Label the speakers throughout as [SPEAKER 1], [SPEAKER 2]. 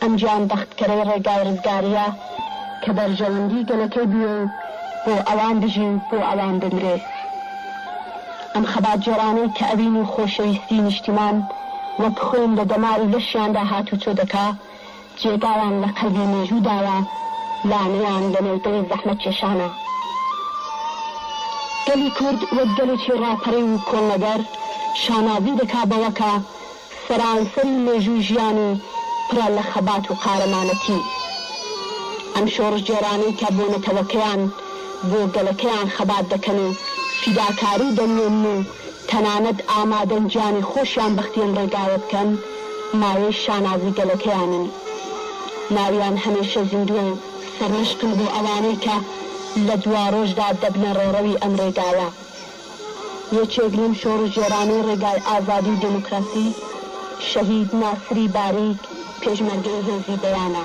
[SPEAKER 1] ئەم گیان بەختکەرەی ڕێگای ڕزگاریە کە بەرژەوەندی گەلەکەی بوێ و بۆ ئەوان بژی و بۆ ئەوان بمرێ. ئەم خەباتگێرانەی کە ئەوین و خۆشەویستی نیشتیمان وەک خۆین لە دەمار و لەشیاندا هاتوچۆ دەکا، جێگایان لە قەلبی مێژوو داوە، لانەیان لە نێو دڵی زەحمەتکێشانە. گەلی کورد وەک گەلێکی ڕاپەڕیو و کۆڵنەدەر شانازی دەکا بەوەکە سەرانسەری مێژووی ژیانی پڕە لە خەبات و قارەمانەتی ئەم شۆڕشگێڕانەی کە بۆ نەتەوەکەیان، بۆ گەلەکەیان خەبات دەکەن و فیداکاری دەنوێنن و تەنانەت ئامادەن گیانی خۆشیان بەختی ئەم ڕێگایە بکەن، مایەی شانازی گەلەکەیانن. ناویان هەمێشە زیندووە و سەرمەشقن بۆ ئەوانەی کە لە دواڕۆژدا دەبنە ڕێڕەوی ئەم ڕێگایە. یەکێک لەم شۆڕشگێرانەی ڕێگای ئازادی و دێموکراسی شەهید ناسری باریک پێشمەرگەی هێزی دەیانە.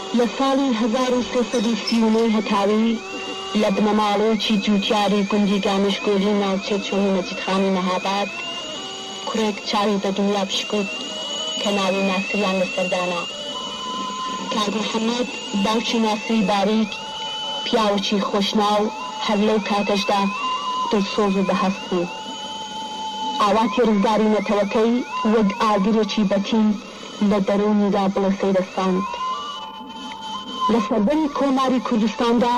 [SPEAKER 1] لە ساڵی هەزار و سێ سەد و سی و نۆ هەتاوی لە بنەماڵەیەکی جووتیاری گوندی گامشگۆلی ناوچەی چۆمی مەجیدخانی مەهاباد کوڕێک چاوی بە دنیا پشکووت کە ناوی ناسریان لەسەر دانا. کاک محەمەد باوکی ناسری باریک پیاوێکی خۆشناو هەر لەو کاتەشدا دڵسۆز و بەهەست بوو. ئاواتی ڕزگاری نەتەوەکەی وەک ئاگرێکی بەتین، لە دەروونیدا بڵێ سەیرە ساند. لە سەردەمی کۆماری کوردستاندا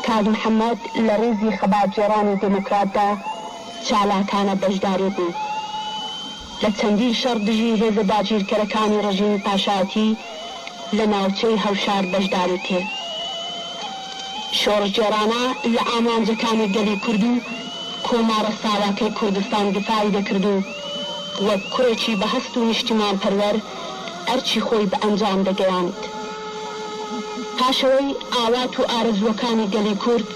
[SPEAKER 1] کاک محەمەد لە ڕیزی خەباتگێڕانی دێموکراتدا چالاکانە بەشداری بوو. لە چەندین شەڕ دژی هێزە داگیرکەرەکانی ڕژیمی پاشایەتی لە ناوچەی هەوشار بەشداری کرد. شۆڕشگێڕانە لە ئامانجەکانی گەلی کورد و کۆمارە ساواکەی کوردستان دفاعی دەکرد و، وەک کوڕێکی بەهەست و نیشتیمانپەروەر ئەرکی خۆی بە ئەنجام دەگەیاند. پاشئەوەی ئاوات و ئارەزووەکانی گەلی کورد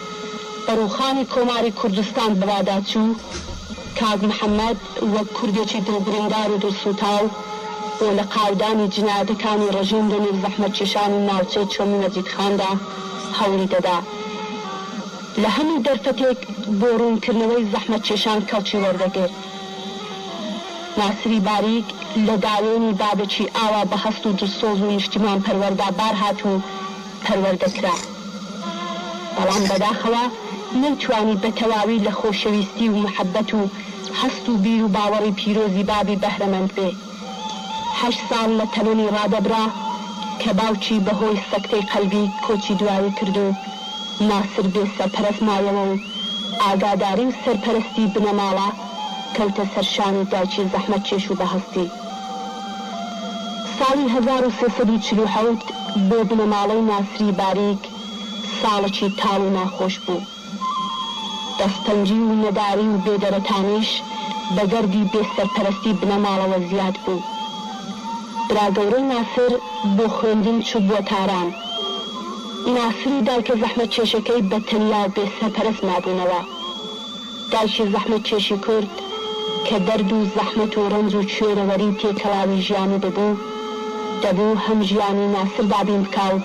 [SPEAKER 1] بە ڕووخانی کۆماری کوردستان بەواداچوو، کاک محەمەد وەک کوردێکی دڵبریندار و دڵسووتاو بۆ لەقاودانی جینایەتەکانی ڕژیم لەنێو زەحمەتکێشانی ناوچەی چۆمی مەجیدخاندا هەوڵی دەدا لە هەموو دەرفەتێک بۆ ڕوونکردنەوەی زەحمەتکێشان کەڵکی وەردەگرت. ناسری باریک لە داوێنی بابەکی ئاوا بە هەست و دلسۆز و نیشتیمان پەروەردا بار هات و پەروەردە کرا. بەڵام بەداخەوە نەیتوانی بە تەواوی لە خۆشەویستی و محەبەت و هەست و بیر و باوەڕی پیرۆزی بابی بەهرەمەند بێ. هەشت ساڵ لە تەمەنی ڕادەبرا کە باوکی بە هۆی سەکتەی قەلبی کۆچی دوایی کرد و ناسر بێ سەرپەرەست مایەوە و ئاگاداری و سەرپەرەستی بنەماڵە کەوتە سەر شانی دایکی زەحمەتکێش و بەهەستی. ساڵی هەزار و سێ سەد و چل و حەوت بۆ بنەماڵەی ناسری باریک ساڵەکی تاڵ و ناخۆش بوو. دەستەنگی و نەداری و بێدەرەتانیش بە گەردی بێ سەرپەرەستی بنەماڵەوە زیاد بوو. برا گەورەی ناسر بۆ خوێندن چووبووە تاران. ناسر و دایکە زەحمەتکێشەکەی بە تەنیا و بێ سەرپەرەست مابوونەوە. دایکی زەحمەتکێشی کورد کە دەرد و زەحمەت و ڕەنج و کوێرەوەری تێکەڵاوی ژیانی ببوو، دەبوو هەم ژیانی ناسر دابین بکا و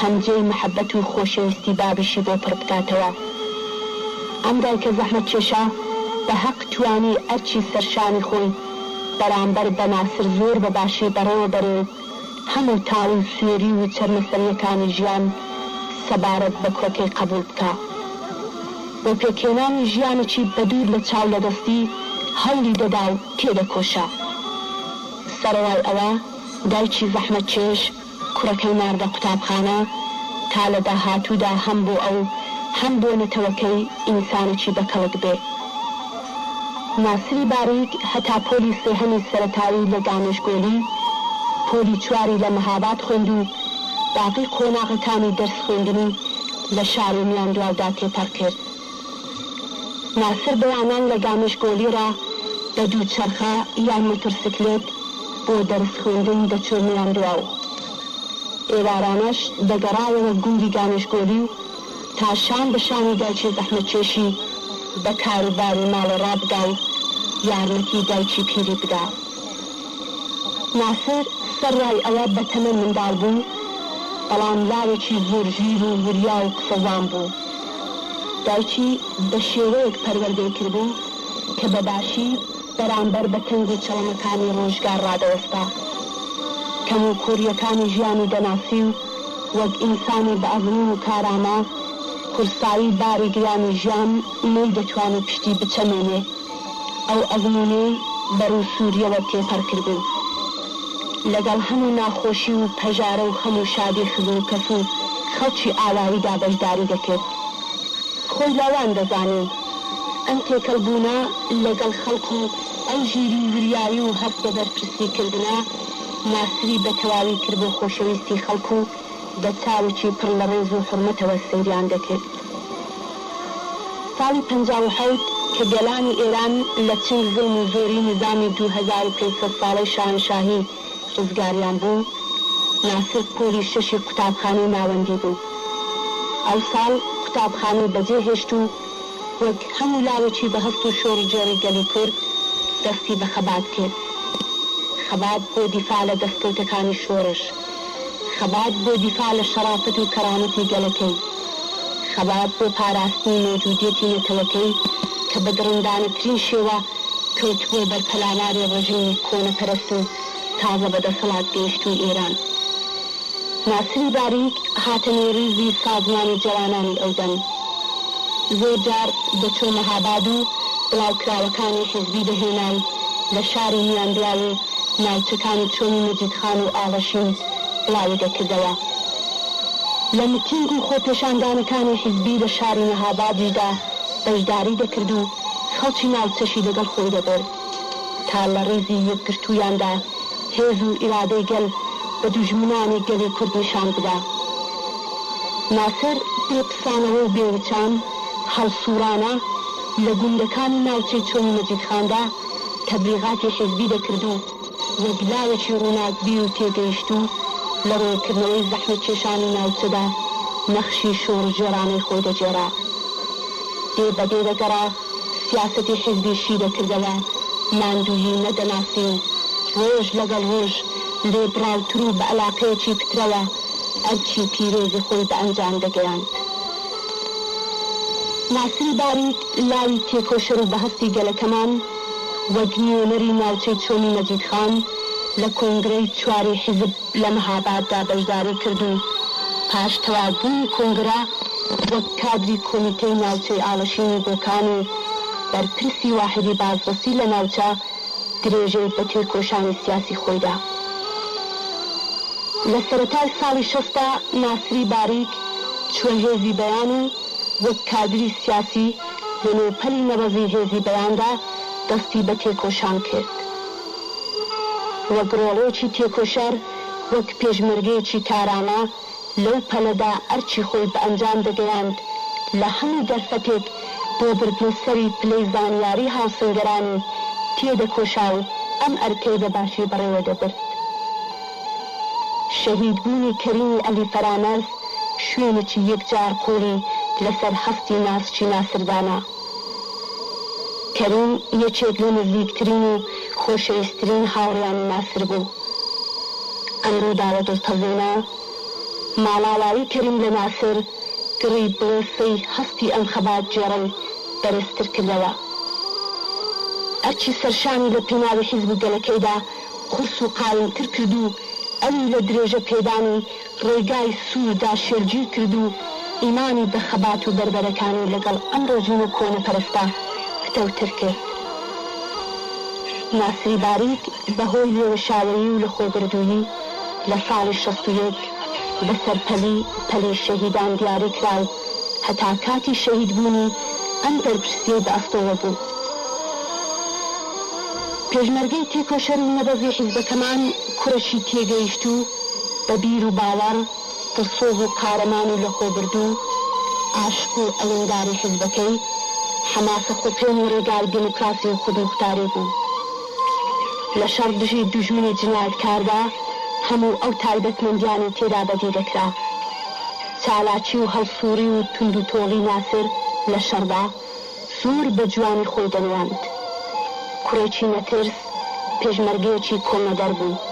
[SPEAKER 1] هەم جێی محەبەت و خۆشەویستی بابیشی بۆ پڕ بکاتەوە. ئەم دایکە زەحمەتکێشە بە هەق توانی ئەرکی سەر شانی خۆی بەرامبەر بە ناسر زۆر بە باشی بەڕێوە بەرێ و هەموو تاڵی و سوێری و چەرمەسەریەکانی ژیان سەبارەت بە کۆکەی قەبوڵ بکا بۆ پێکهێنانی ژیانێکی بە دوور لە چاو لە دەستی هەوڵی دەدا و تێدەکۆشا. سەڕەرای ئەوە دایکی زەحمەتکێش. کوڕەکەی ناردە قوتابخانە تا لە داهاتوودا هەم بۆ ئەو هەم بۆ نەتەوەکەی ئینسانێکی بەکەڵک بێ. ناسری باریک هەتا پۆلی سێهەمی سەرەتایی لە گامێشگۆلی، پۆلی چواری لە مەهاباد خوێند و باقی قۆناغەکانی دەرس خوێندنی لە شاری میاندواودا تێپەڕ کرد. ناسر بەیانان لە گامشگۆلی را بە دووچەرخە یان موترسکلێت بۆ دەرس خوێندن دەچووە میاندواو و ئێوارانەش دەگەڕایەوە گوندی گامشگۆلی و تا شان بە شانی دایکی زەحمەتکێشی بە کاروباری ماڵێ رابگا و یارمەتی دایکی پیری بدا. ناسر سەرڕای ئەوە بە تەمەن منداڵ بوو، بەڵام لاوێکی زۆر ژیر و وریا و قسەوان بوو. دایکی بە شێوەیەک پەروەردەی کردبوو کە بە باشی بەرامبەر بە تەنگ و چەڵەمەکانی ڕۆژگار ڕادەوەستا. کەموکووڕییەکانی ژیانی دەناسی و وەک ئینسانی بە ئەزموون و کارامە، قورسایی باری گرانی ژیان نەیدەتوانی پشتی بچەمێنێ. ئەو ئەزموونەی بەڕووی سووریەوە تێپەڕکردن، لەگەڵ هەموو ناخۆشی و پەژارە و خەم و شادی خزموکەس و خەڵکی ئاواییدا بەشداری دەکرد. خۆی لاوان دەزانی ئەم تێکەڵبوونە لەگەڵ خەڵک و ئەو ژیری و وریایی و هەست بە بەرپرسیکردنە، ماسری بەتەواوی کرد بۆ خۆشەویستی خەڵک و، بە چاوێکی پڕ لە ڕێز و حورمەتەوە سەیریان دەکرد. ساڵی پەنجا و حەوت کە گەلانی ئێران لە چنگ زوڵم و زۆری نیزامی دوو هەزار و پێنج سەد ساڵەی شاهەنشاهی ڕزگاریان بوو، ناسر پۆلی شەشی قوتابخانەی ناوەندی بوو. ئەو ساڵ قوتابخانەی بەجێ هێشت و وەک هەموو لاوێکی بە هەست و شۆڕ و جێڕی گەلی کورد دەستی بە خەبات کرد. خەبات بۆ دیفاع لە دەستکەوتەکانی شۆڕش. خەبات بۆ دیفاع لە شەڕافەت و کەرامەتی گەلەکەی، خەبات بۆ پاراستنی مەوجودیەتی نەتەوەکەی کە بە دڕندانەترین شێوە کەوتبووە بەر پەلاماری ڕژیمی کۆنەپەرست و تازە بەدەسەڵات گەیشتووی ئێران. ناسری باریک هاتە نێو ڕیزی سازمانی جەوانانی ئەودەم. زۆر جار دەچوو مەهاباد و بڵاوکراوەکانی حیزبی دەهێنای لە شاری میاندواو و ناوچەکانی چۆمی مەجیدخان و ئاڵەشین بڵاوی دەکردەوە. لە میتینگ و خۆپێشاندانەکانی حیزبی لە شاری مەهابادیشدا بەشداری دەکرد و خەڵکی ناوچەشی لەگەڵ خۆی دەبرد. تا لە ڕیزی یەکگرتوویاندا هێز و ئیرادەی گەل بە دوژمنانی گەلی کورد نیشان بدا. ناسر بێ پسانەوە و بێ وچان هەڵسووڕانا لە گوندەکانی ناوچەی چۆمی مەجیدخاندا تەبلیغاتی حیزبی دەکرد و وەک لاوێکی ڕووناکبیر و تێگەیشتوو لە ڕوونکردنەوەی زەحمەتکێشانی ناوچەدا نەخشی شۆڕشگێڕانەی خۆی دەگێڕا. دێ بە دێ دەگەڕا. سیاسەتی حیزبی شیرە کردەوە، ماندوویی نەدەناسی، ڕۆژ لەگەڵ ڕۆژ لێبڕاوتر و بە ئەلاقەیەکی پترەوە ئەرکی پیرۆزی خۆی بە ئەنجام دەگەیاند. ناسری باریک لاوی تێکۆشەر و بەهەستی گەلەکەمان وەک نوێنەری ناوچەی چۆمی مەجیدخان لە کۆنگرەی چواری حیزب، لە مەهاباددا بەشداری کرد و پاش تەواوبوونی کۆنگرە وەک کادری کۆمیتەی ناوچەی ئاڵشینی بۆکان و بەرپرسی واحیدی بازرسی لە ناوچە درێژەی بە تێکۆشانی سیاسی خۆی دا. لە سەرەتای ساڵی شەستدا ناسری باریک چووە هێزی بەیان و وەک کادری سیاسی لە نێو پەلی نەبەزی هێزی بەیاندا دەستی بە تێکۆشان کرد. وەک ڕۆڵێکی تێکۆشەر، وەک پێشمەرگەیەکی کارامە لەو پەلەدا ئەرکی خۆی بە ئەنجام دەگەیاند لە هەموو دەرفەتێک بۆ بردنە سەری پلەی زانیاری هاوسەنگەرانی تێدەکۆشا و ئەم ئەرکەی بە باشی بەڕێوە دەبرد. شەهید بوونی کەریمی عەلی فەرامەرز شوێنێکی یەکجار قووڵی لەسەر هەستی ناسکی ناسر دانا. کەریم یەکێک لە نزیکترین و خۆشەویسترین هاوڕێیانی ناسر بوو. ئەم ڕووداوە دڵتەزێنە، ماڵاوایی کەریم لە ناسر، گڕی بڵێسەی هەستی ئەم خەباتگێڕەی بەرزتر کردەوە. ئەرکی سەرشانی لە پێناوی حیزب و گەلەکەیدا قورس و قایمتر کرد و ئەوی لە درێژەپێدانی ڕێگای سووردا شێلگیر کرد و ئیمانی بە خەبات و بەربەرەکانی لەگەڵ ئەم ڕێژیم و کۆنەپەرستە پتەوتر کرد. ناسری باریک بە هۆی لێوەشاوەیی و لەخۆبردوویی لە ساڵی شەست و یەک بە سەرپەلی پەلی شەهیدان دیاری کرا و هەتا کاتی شەهیدبوونی ئەم بەرپرسیەی بە ئەستۆوە بوو. پێشمەرگەی تێکۆشەر و نەبەزی حیزبەکەمان کورەشی تێگەیشتوو، بە بیر و باوەڕ، دڵسۆز و قارەمان و لەخۆبردوو، عاشق و ئەوێنداری حیزبەکەی، حەماسە خوپێن و ڕێگای دێموکراسی و خودموختاری بوو. لە شەڕ دژی دوژمنی جنایەتکاردا هەموو ئەو تایبەتمەندیانەی تێدا بەدی دەکرا. چالاکی و هەڵسووڕی و توندوتۆڵی ناسر لە شەڕدا، زۆر بە جوانی خۆی دەنواند. کوڕێکی نەترس پێشمەرگەیەکی کۆنەدەر بوو.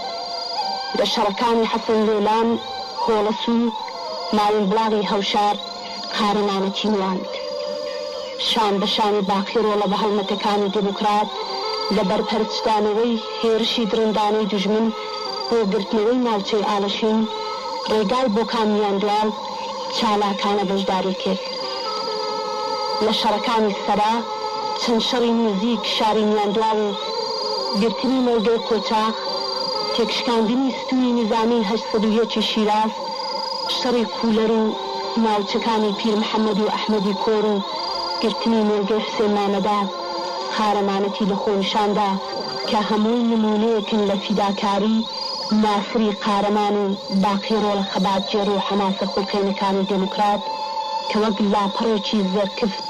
[SPEAKER 1] لە شەڕەکانی حەسەن لۆلان، هۆڵس و ماوینبڵاغی هەوشار قارەمانەکی نواند. شان بە شانی باقی ڕۆڵە بە هەڵمەتەکانی دێموکرات لە بەرپەرچدانەوەی هێرشی دڕندانەی دوژمن بۆ گرتنەوەی ناوچەی ئاڵشین، ڕێگای بۆکان میاندواڵ، چالاکانە بەشداری کرد لە شەڕەکانی سەرا چەند شەڕی نیزیک شاری میاندواڵ و گرتنی مۆڵگەی قۆچاخ، تێکشکاندنی ستونی نیزامیی هەشت سەد و یەک ی شیراز، شەڕی قولەر و ناوچەکانی پیرمحەمەد و ئەحمەدی کۆر و گرتنی مۆڵگەی حوسێن مامەدا قارەمانەتی لە خۆ نیشاندا کە هەمووی نمونەیەکن لە فیداکاری ناسری قارەمان و باقی ڕۆڵە خەباتگێڕ و حەماسە خوڵقێنەکانی دێموکرات کە وەک لاپەڕێکی زێڕکفت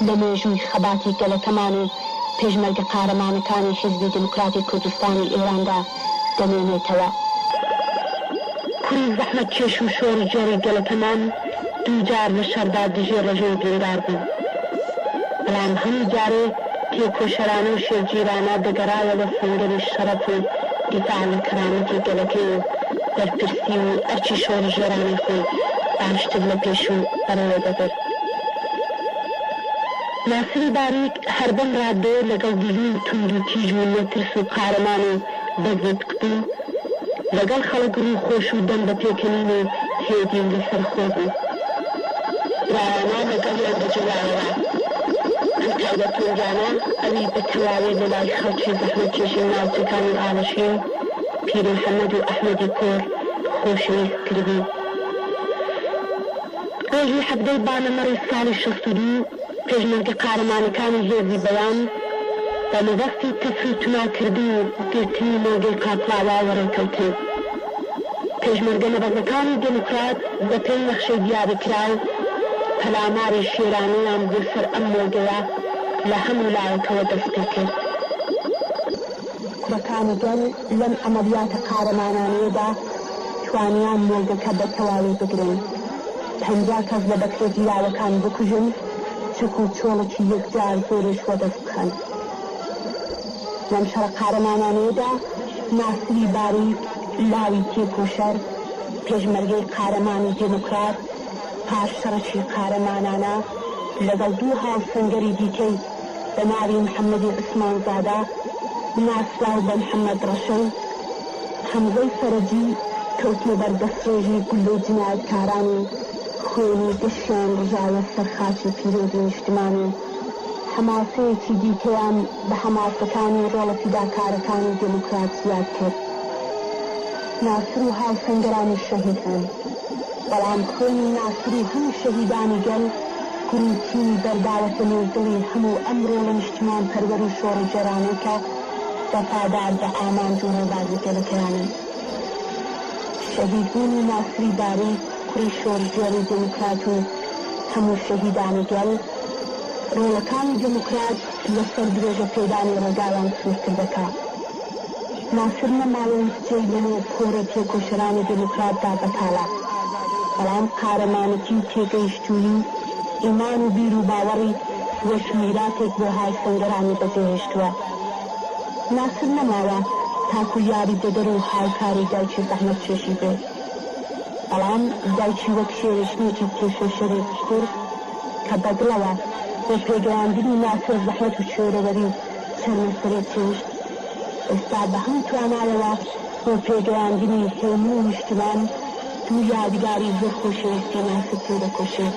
[SPEAKER 1] لە مێژووی خەباتی گەلەکەمان و پێشمەرگە قارەمانەکانی حیزبی دێموکراتی کوردستانی ئێراندا دەمێنێتەوە. کوڕی زەحمەتکێش و شۆڕشگێڕی گەلەکەمان دووجار لە شەڕدا دژی ڕژێم بریندار بوو، بەڵام هەموو جارێ، تێکۆشەرانە و شێلگیرانە دەگەڕایەوە سەنگەری شەڕەف و دیفاع لە کەرامەتی گەلەکەی و بەرپرسی و ئەرکی شۆڕشگێرانەی خۆی باشتر لە پێشوو بەڕێوە دەبرد. ناسری باریک هەر بەم ڕاددەیە لەگەڵ دژی توندوتیژ و نەترس و قارەمان و بەزەت قوتی، لەگەڵ خەڵک روو خۆش و دەم بە پێکەنین و هێدین لە سەر خۆ بوو. برایانە لەگەڵیان دەجوڵایەوە. ئەم تایبەتمەندیانە ئەوی بە تەواوی لە لای خەڵکی زەحمەتکێشی ناوچەکانی ئاڵشین، پیرمحەمەد و ئەحمەدی کۆر خۆشەویست تر بوو. ڕۆژی حەڤدەی با لە مەڕی ساڵی شەست و دوو پێشمەرگە قارەمانەکانی هێزی بەیان بە مەبەستی تەفر و تونا کردن و گرتنی مۆڵگەی قاقڵاوا وەڕێکەوتن. پێشمەرگە نەبەزەکانی دێموکرات بە پێی نەخشەی دیاریکراو پەلاماری شێرانەیان بۆ سەر ئەم مۆڵگەیە لە هەموو لایەکەوە دەست پێ کرد. کوڕەکانی گەل لەم عەمەلیاتە قارەمانانەیەدا توانیان مۆڵگەکە بە تەواوی بگرن، پەنجا کەس لە بەکرێگیراوەکان بکوژن، چەک و چۆڵکی یەکجار زۆریش وەدەست بخەن. لەم شەڕە قارەمانانەیەدا ناسری باری لاوی تێکۆشەر، پێشمەرگەی قارەمان و دێموکرات، پاش شەڕێکی قارەمانانە لەگەڵ دوو هاوسەنگەری دیکەی، بە ناوی محەمەدی عوسمان زادە ناسراو بە محەمەد ڕەشەی هەمزەی فەرەجی کەوتنە بەر دەستڕێژی گوللەی جینایەتکاران و خوێنی گەشیان ڕژایە سەر خاکی پیرۆزی نیشتمان و حەماسەیەکی دیکەیان بە حەماسەکانی ڕۆڵە فیداکارەکانی دێموکرات زیاد کرد. ناسر و هاوسەنگەرانی شەهید بوون، بەڵام خوێنی ناسر و هەموو شەهیدانی گەل، قریشیی دەرداوەتە نێو دڵی هەموو ئەم ڕۆڵە نیشتیمانپەروەر و شۆڕشگێرانەی کە وەفادار بە ئامانج و ڕێبازی گەلەکەیانن. شەهیدبوونی ناسری باری، کوڕی شۆڕشگێڕ و دێموکرات و هەموو شەهیدانی گەل، ڕۆڵەکانی دێموکرات لەسەر درێژەپێدانی ڕێگایان سوورتر دەکا. ناسر لە ماوەی سێ لە نۆ کۆڕی تێکۆشەرانی دێموکرات دا بەکالا، بەڵام قارەمانەتی و تێگەیشتوویی و ئیمان و بیر و باوەڕی وەک میراتێک بۆ های سەنگەرانی بەجێهێشتووە. ناسر نەماوە تاکوو یاری دەدەر و هاوکاری دایکی زەحمەتکێشی بێ، بەڵام دایکی وەک شێوەژنێکی تێکۆشەری کورد کە بەدڵەوە بۆ پێگەیاندنی ناسر زەحمەت و کوێرەوەری و چەرمەسەری چێشت ئێستا بە هەموو توانایەوە بۆ پێگەیاندنی هێمنی نیشتمان دوو یادگاری زۆر خۆشەویستی ناسک تێدەکۆشێت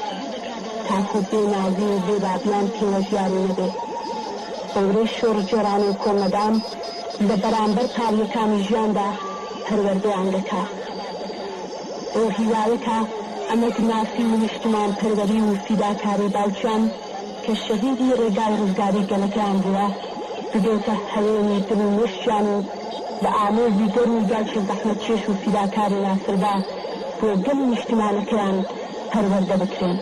[SPEAKER 1] تاکو بێ نازی و بێ بابیان پێوە دیاری نەبێ بەورەی شۆڕگێڕانە و کۆڵنەدان لە بەرامبەر پاڵیەکانی ژیاندا پەروەردەیان دەکا بەو هیوایە کە ئەمەک ناسی و نیشتمانپەروەری و فیداکاری باوکیان کە شەهیدی ڕێگای ڕزگاری گەلەکەیان بووە، ببێتە هەوێنی دڵ و مێشکیان و بە ئامێزی گەرمی دایکی زەحمەتکێش و فیداکاری ناسربا بۆ گەل و نیشتمانەکەیان پەروەردە بکرێن.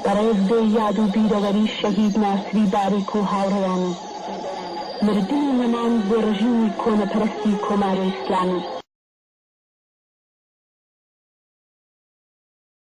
[SPEAKER 1] بەڕێز بێ یاد و بیرەوەری شەهید ناسری باریک و هاوڕێیانی، مردن و نەمان بۆ ڕژیمی کۆنەپەرستی کۆماری ئیسلامی،